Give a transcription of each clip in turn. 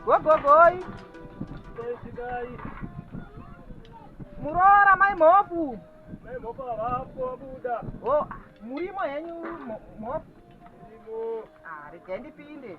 gogogoi muroora mai mhopu oh, murimo henyu mhopu ah, regai ndipinde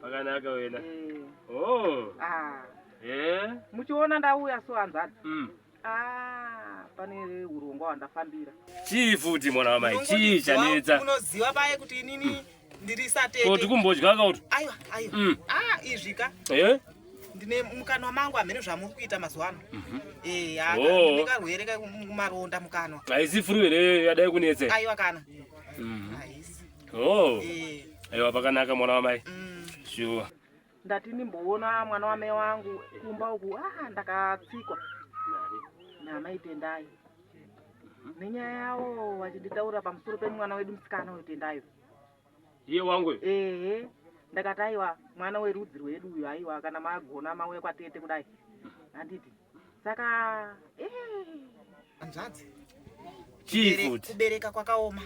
Pakanaka wena. Eh. Oh. Ah. Eh. Muchiona ndauya so hanzada. Mm. Ah, pane urongwa wandafambira. Chii futi mwana wa mai? Chii chanetsa? Unoziva baye kuti inini mm. ndiri satete. Ko tikumbodya ka uti? Aiwa, aiwa. Mm. Ah, izvi ka. Eh? ndine mukanwa mangu hamene zvamuri kuita mazuva ano mhm. eh, oh. karwere kamaronda mukanwa haisi furu here yadai kunetse aiwa kana mhm. Oh. Eh. Ewa pakanaka mwana wamai. Mm. Sure. Ndati ndimboona mwana wamai wangu kumba uku ah ndakatsikwa. Namai Tendai. Mhm. Nenyaya yawo vachinditaura pamusoro pemwana wedu musikana uyu Tendayo. Iye wangu. Ehe. Ndakati aiwa mwana werudzi rwedu uyu aiwa kana magona mauya kwatete kudai. Mhm. Handiti. saka hanzvadzi kubereka kwakaoma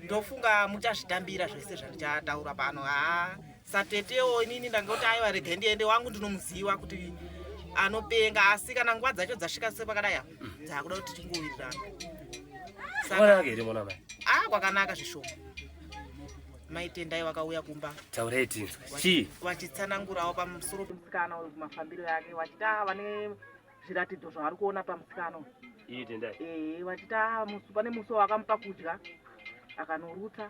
ndofunga muchazvitambira zvese zvandichataura pano haa satetewo inini ndangoti aiwa rega ndiende wangu ndinomuziva kuti anopenga asi kana nguva dzacho dzasvika se pakadai apa dzakuda kuti tingowirirana ah kwakanaka zvishoma mai tendai vakauya kumba taurai tinzwe chii vachitsanangurawo pamusoro pemusikana uyu kumafambiro yake vachiti ava vane zviratidzo zvavari kuona pamusikana uyu iyi tendai ee vachiti ava musi pane musi wavakamupa kudya akanorutsa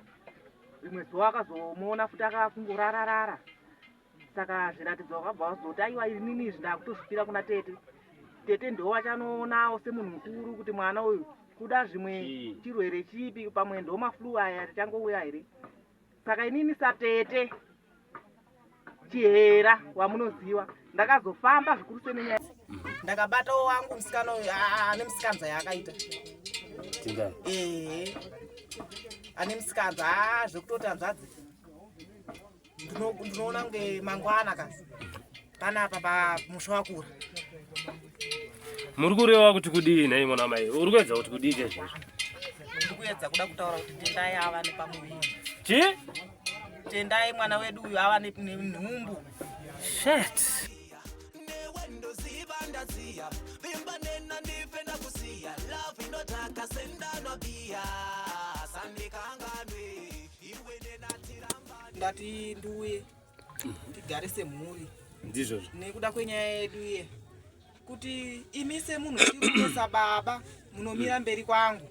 rimwe zuva akazomuona futi akakungorararara saka zviratidzo vakabva vazoti aiwa inini izvi ndakutozvipira kuna tete tete ndiwo vachanoonawo semunhu mukuru kuti mwana uyu kuda zvimwe chirwere chipi pamwe ndo maflu aya tichangouya here saka inini satete chihera wamunoziva ndakazofamba zvikuru senenyaya ndakabatawo wangu musikana uyu ane musikanza yaakaita ehe ane musikanza haa zvekutoti hanzvadzi ndinoona kunge mangwana ka panapa pamusha wakura muri kureva kuti kudii nhai mwana mai uri kuedza kuti kudii chaizvo ndiri kuedza kuda kutaura kuti tendai ava nepamuviri chi tendai mwana wedu uyu ava nenhumbu shet ndati ndiuye ndigare semhuri ndizvozvo nekuda kwenyaya yedu iye kuti imi semunhu ndikutosa baba munomira mberi kwangu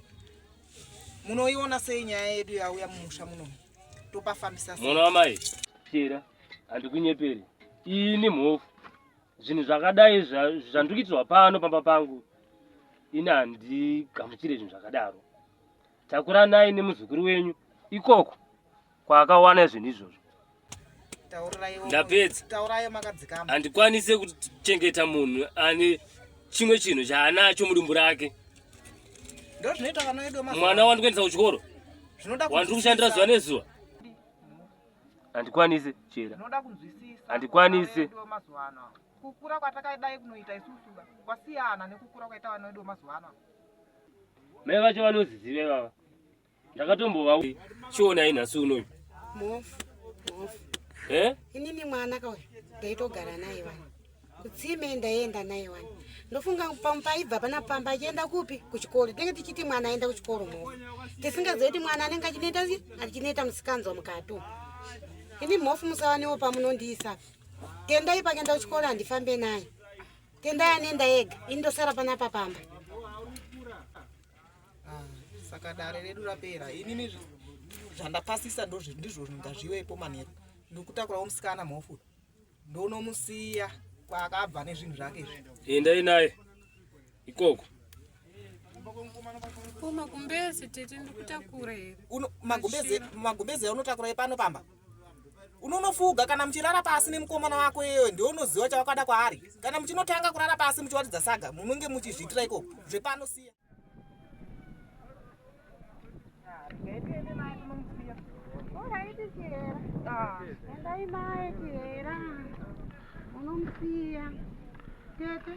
munoiona sei nyaya yedu yauya mumusha muno topafambisa mwana wamai pera handikunyeperi ini mhofu zvinhu zvakadai zvandikuitirwa pano pamba pangu ini handigamuchire zvinhu zvakadaro Takuranai nemuzukuru wenyu ikoko kwaakawana zvinhu izvozvo. Ndapedza. Handikwanise kuchengeta munhu ane chimwe chinhu chaanacho mudumbu rake. Ndozvinoita vana vedu mazuva. Mwana wandi kuendesa kuchikoro. Zvinoda kuchikoro. Wandi kushandira zuva nezuva. Handikwanise chera. Zvinoda kunzwisisa. Handikwanise. Kukura kwatakaidai kunoita isusu kwasiyana nekukura kwaita vana vedu mazuva ano. mai vacho vanoziziva ivava ndakatombova chionai nhasi unoyu eh? inini mwana kauya ndaitogara naye vana kutsime ndaienda naye wani ndofunga paibva pana pamba achienda kupi kuchikoro tinenge tichiti mwana aenda kuchikoro mo tisingazive kuti mwana anenge achineta achineta musikanzwa mukatu ini mhofu musavanewo pamunondiisa tendai pakenda kuchikoro handifambe naye Tenda anenda ega, ini ndosara panapa pamba. Ah, saka dare redu rapera. Inini zvandapasisa ndozvo ndizvo ngazvivepo manheru. Ndikutakurawo musikana mhofu. Ndonomusiya kwaakabva nezvinhu zvake izvi. Endai naye. Ikoko. Ko magumbezi tete ndikutakura here? Uno magumbezi magumbezi unotakura pano pamba? unonofuga kana muchirara pasi nemukomana wako iyeyo ndiwo unoziva chawakada kwaari kana muchinotanga kurara pasi muchiwaridza saga munenge muchizviitira ikoko zvepano siya unomusiya tete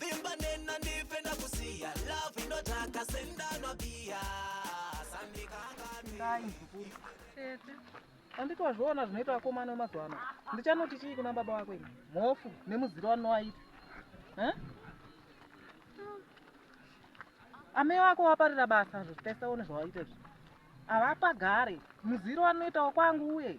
vimba nena ndife ndakusiya love inodhaka sendanwa biya anditi wazviona zvinoita vakomana wemazuva ano ndichanoti chii kuna baba wako ini mhofu nemuziro wanowaita amai wako waparira basa zvo tese one zvawaita zvi havapagare muziro wanoitawo kwangu uye